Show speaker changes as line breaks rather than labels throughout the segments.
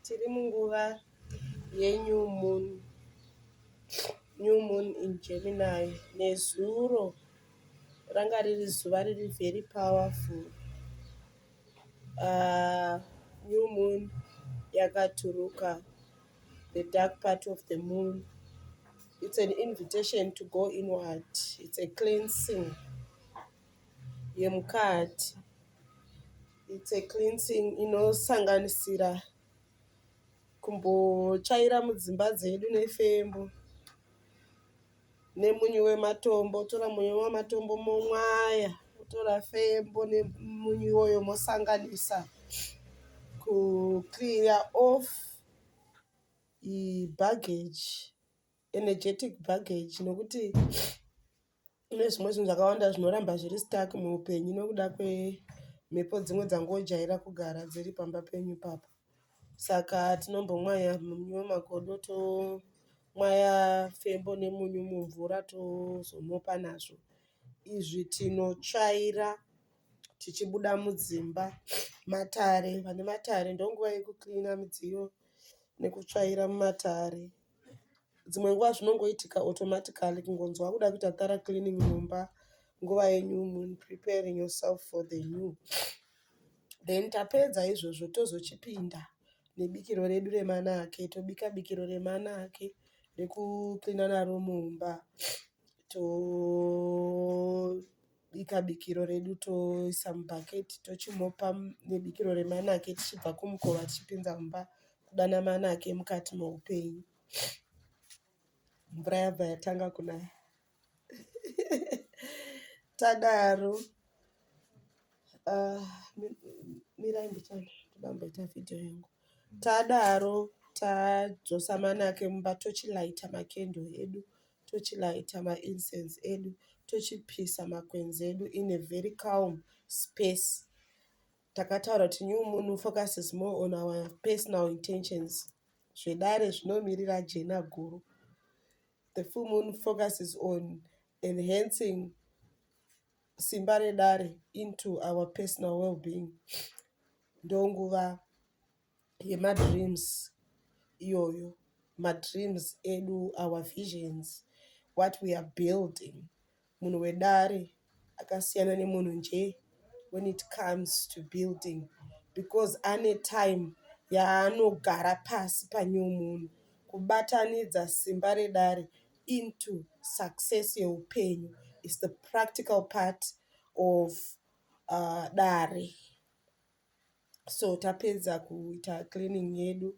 Tiri munguva yeNew Moon. New Moon in Gemini. Nezuro ranga riri zuva riri very powerful. Uh, new Moon yakaturuka the dark part of the moon. It's an invitation to go inward. It's a cleansing. yemukati. It's a cleansing inosanganisira kumbotsvaira mudzimba dzedu nefembo nemunyu wematombo. Wotora munyu wematombo momwaya, wotora fembo nemunyu iwoyo mosanganisa ku cleaner off baggage. energetic baggage nokuti kune zvimwe zvinhu zvakawanda zvinoramba zviri stark muupenyu nokuda kwemhepo dzimwe dzangojaira kugara dziri pamba penyu papo saka tinombomwaya munyu wemagodo tomwaya fembo nemunyu mumvura tozomopa nazvo izvi tinotsvaira tichibuda mudzimba matare vane matare ndonguva yekuklina midziyo nekutsvaira mumatare dzimwe nguva zvinongoitika automatically kungonzi wakuda kuita thorough cleaning mumba nguva yenyu muri preparing yourself for the new. Then tapedza izvozvo tozochipinda nebikiro redu remanake tobika bikiro remanake rekucleana naro mumba to tobika bikiro redu toisa mubucket tochimupa nebikiro remanake tichibva kumukova tichipinza mumba kudana manake mukati meupenyu mvura yabva yatanga kunaya tadaro ah, mirai mbichana todamboita vhidhiyo yangu tadaro tadzosa manake mumba tochilaita makendo edu tochilighter ma incense edu tochipisa makwenzi edu in a very calm space. Takataura kuti new moon focuses more on our personal intentions. Zvedare zvinomirira jena guru. The full moon focuses on enhancing simba redare into our personal well-being. Ndonguva yemadreams iyoyo madreams edu our visions what we are building munhu wedare akasiyana nemunhu nje when it comes to building because ane time yaanogara pasi pane munhu kubatanidza simba redare into success yeupenyu is the practical part of uh, dare so tapedza kuita cleaning yedu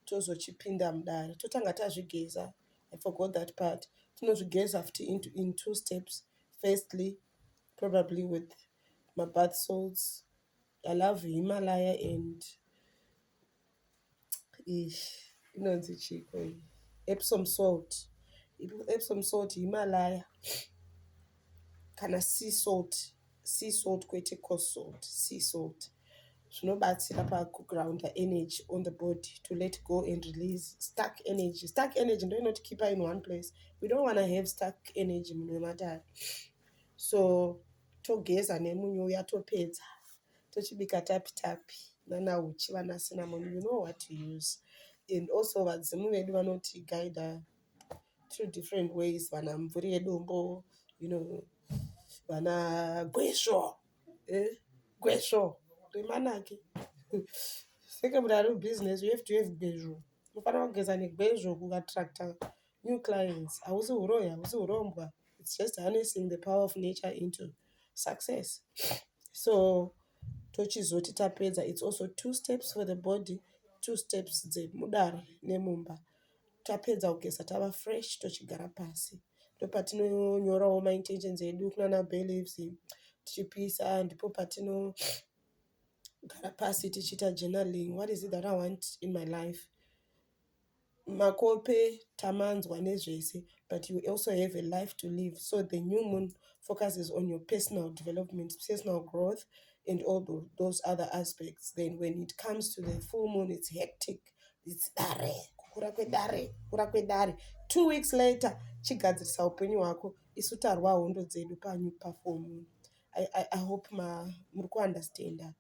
tozochipinda mudare totanga tazvigeza i forgot that part tinozvigeza futi in two steps firstly probably with mabath salts i love himalaya and Iyi inonzi chiiko iyi epsom salt. Epsom salt Himalaya kana sea salt, sea salt kwete coast salt, sea salt. Zvinobatsira paku grounder energy on the body to let go and release stuck energy. Stuck energy ndiyo inoti keeper in one place. We don't wanna have stuck energy munhu wematare. So togeza nemunyu uya topedza tochibika tapi tapi nana uchi vana cinnamon you know what to use and also vadzimu vedu vanoti guida through different ways vana mvuri yedombo you know vana gwesvo eh? gwesvo remanake seke mudari business you have to have gwezvo unofanira kugeza negwezvo kuvatractor new clients hausi huroyi hausi hurombwa its just harnessing the power of nature into success so tochizoti tapedza its also two steps for the body two steps dzemudare nemumba tapedza kugeza tava fresh tochigara pasi ndopatinonyorawo maintentions edu kunana beliefs tichipisa ndipo patino gara pasi tichiita journaling what is it that i want in my life Makope tamanzwa nezvese but you also have a life to live so the new moon focuses on your personal development, personal growth and all those other aspects then when it comes to the full moon it's hectic it's dare kukura kwedare kukura kwedare two weeks later chigadzirisa upenyu hwako isu tarwa hondo dzedu panyu pafull moon. I, I, I hope ma, muri kuunderstanda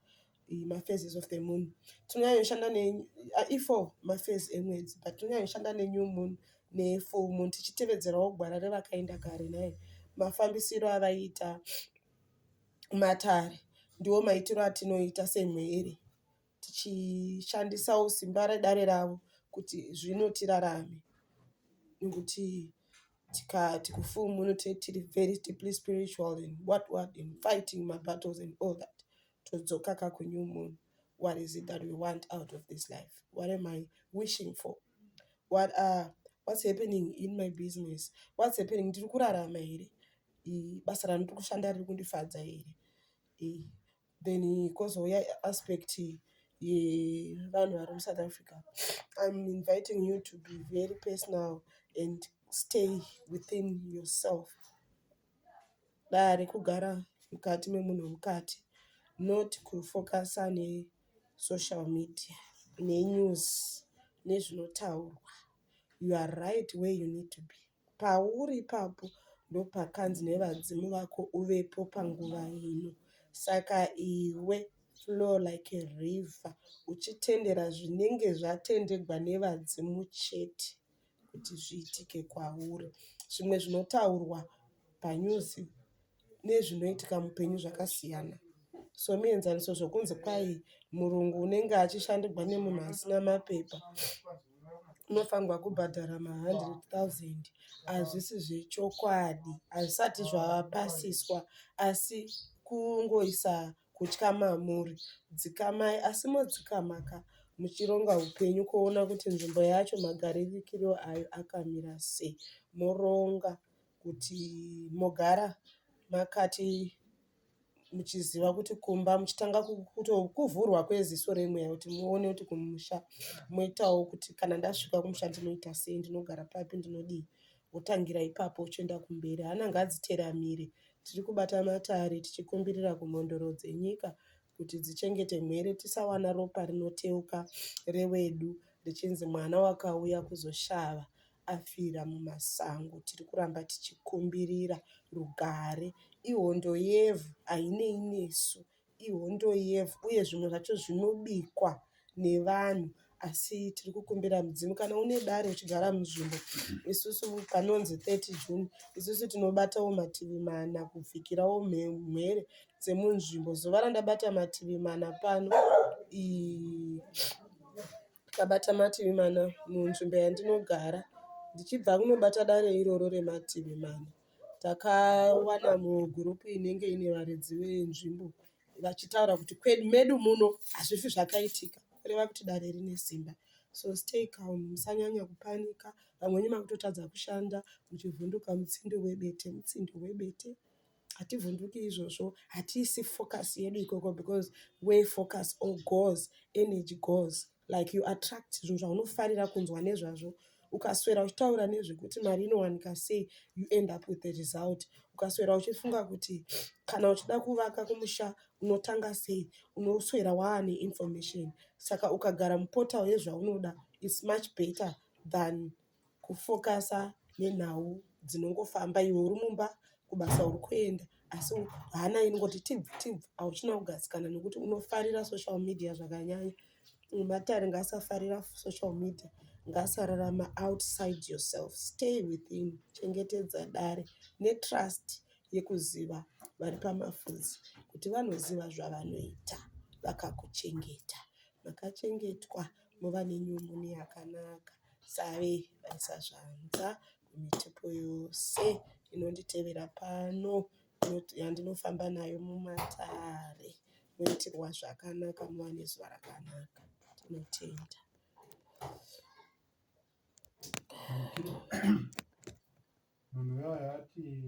ma phases of the moon tinonyanya kushanda ne i four ma phase emwedzi but tinonyanya kushanda ne new moon ne full moon tichitevedzerawo gwara revakaenda kare nhai mafambisiro avaiita matare ndiwo maitiro atinoita semhuri tichishandisawo simba redare ravo kuti zvino tirarame nekuti tikati kufull moon tiri very deeply spiritual and what what and fighting ma battles and all that todzoka ka ku new moon what is it that we want out of this life what am I wishing for what are what's happening in my business what's happening ndiri kurarama here basa randiri kushanda riri kundifadza here then kozouya aspect yevanhu vari musouth africa im inviting you to be very personal and stay within yourself Dare kugara mukati memunhu wemukati not kufokasa nesocial media nenews nezvinotaurwa. You are right where you need to be. Pauri ipapo ndopakanzi nevadzimu vako uvepo panguva ino. Saka iwe flow like a river uchitendera zvinenge zvatendegwa nevadzimu chete. kuti zviitike kwauri. Zvimwe zvinotaurwa panews nezvinoitika muhupenyu zvakasiyana somuenzaniso zvekunzi kwai murungu unenge achishandirwa nemunhu asina mapepa unofanirwa kubhadhara mahundred thousand hazvisi zvechokwadi hazvisati zvapasiswa asi kungoisa. kutya mamuri dzikamai asi modzikama ka muchironga upenyu kuona kuti nzvimbo yacho magaririkiro ayo akamira sei moronga kuti mogara makati muchiziva kuti kumba muchitanga kuvhurwa kweziso remweya kuti muone kuti kumusha moitawo kuti kana ndasvika kumusha ndinoita sei ndinogara papi ndinodii wotangira ipapo uchienda kumberi. Hana ngadziteramire. Tiri kubata matare tichikumbirira kumhondoro dzenyika kuti dzichengete mhere tisawana ropa rinoteuka rewedu richinzi mwana wakauya kuzoshava afira mumasango. Tiri kuramba tichikumbirira rugare. Ihondo yevhu hainei nesu. ihondo yevhu uye zvimwe zvacho zvinobikwa nevanhu asi tiri kukumbira mudzimu kana une dare uchigara munzvimbo isusu panonzi 30 june isusu tinobatawo mativi mana kupfikirawo mhere dzemunzvimbo zuva randabata mativi mana pano ndabata mativi mana munzvimbo yandinogara ndichibva kunobata dare iroro remativi mana Takawana mugroup inenge ine varidzi venzvimbo vachitaura kuti medu muno hazvifi zvakaitika kureva kuti dare rine simba so stay calm musanyanya kupanika vamwe venyu makutotadza kushanda muchivhunduka mutsindo webete mutsindo webete hativhunduki izvozvo hatiisi focus yedu ikoko because where focus or goes energy goes like you attract zvinhu zvaunofarira kunzwa nezvazvo ukaswera uchitaura nezvekuti mari inowanika sei you end up with the result ukaswera uchifunga kuti kana uchida kuvaka kumusha unotanga sei unoswera waane information saka ukagara muportal yezvaunoda its much better than kufokasa nenhau dzinongofamba iwe uri mumba kubasa uri kuenda asi hana inongoti tibvu tibvu hauchina kugadzikana nekuti unofarira social media zvakanyanya matare ngaasafarira social media ngaasararama outside yourself stay within chengetedza dare netrust yekuziva vari pamafuzi kuti vanoziva zvavanoita vakakuchengeta makachengetwa mova nenyumuni yakanaka save vaisa zvanza kumitepo yose inonditevera pano yandinofamba nayo mumatare moitirwa zvakanaka muva nezuva rakanaka tinotenda munhu uyo ati